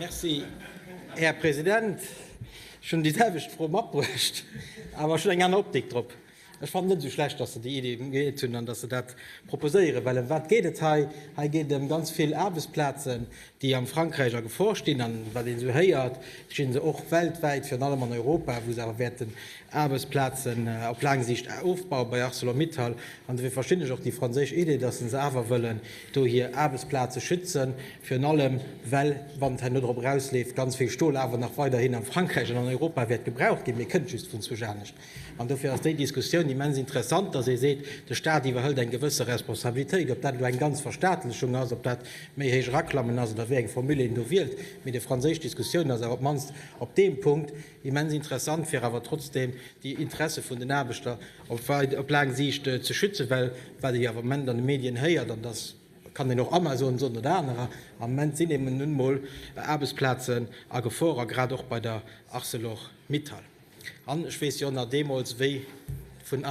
Merci, Här President. Ech hunn déi selwecht Fro matbruecht, awer ech hunn eng aner Optik drop. Ech fannen et net esou schlecht, datt se déi Iddi geet hunn an datt se dat proposéieren, well ëm wat geet et hei? Hei geet et ëm ganz vill Aarbechtsplazen, déi am Frankräich a Gefor stinn. An wat een esou héiert, stinn se och weltwäit, virun allem an Europa, wou se awer wäerten Aarbechtsplazen op laang Siicht ofbauen bei Arcelor-Mittal. An dofir verstinn ech och déi franséisch Idee, datt se awer wëllen do hir Aarbechtsplaze schützen, virun allem well, wann et hei no drop erausleeft, ganz vill Stol awer nach weiderhin a Frankräich an an Europa wäert gebraucht ginn, mee kënnt just vun zwousch anescht. An dofir ass déi Diskussioun immens interessant, datt ee seet, de Stat iwwerhëlt eng gewësse Responsabilitéit. Ob dat elo eng ganz Verstaatlechung ass, ob dat méi héich eraklammen ass oder wéi eng Formule een do wielt, mee déi franséisch Diskussioun ass awer op d'mannst op deem Punkt, Immens interessant, fir awer trotzdem déi Interesse vun den Aarbechter op laang Siicht ze schützen, well wat ee jo awer am Moment an de Medien héiert, an dat kann een och Amazon soen oder anerer, am Moment sinn eben nun emol Aarbechtsplazen a Gefor a grad och bei der Arcelor-Mittal. An ech weess jo nach deemools, wéi vun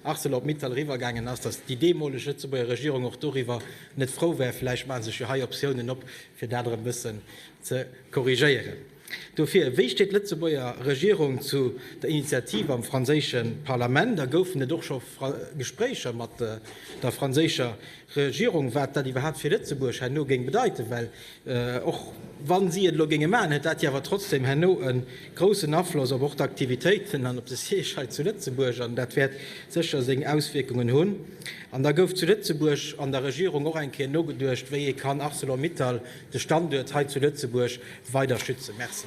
Arcelor-Mittal eriwwergaangen ass, dass déi deemoleg Lëtzebuerger Regierung och doriwwer net frou war. Vläicht maache sech jo hei Optiounen op, fir dat erëm e bëssen ze korrigéieren. Dofir, wéi steet d'Lëtzebuerger Regierung zu der Initiativ am franséische Parlament a goufen et och scho Gespréicher mat der franséischer Regierung, wat dat iwwerhaapt fir Lëtzebuerg herno géing bedeiten? Well och wa si et elo géinge maachen, hätt dat jo awer trotzdem herno e groussen Afloss op och d'Aktivitéiten an op de Siège hei zu Lëtzebuerg an dat wäert sécher seng Auswierkungen hunn. An da gouf zu Lëtzebuerg an der Regierung och eng Kéier nogeduecht, wéi ee kann Arcelor-Mittal, de Standuert hei zu Lëtzebuerg, weider schützen. Merci.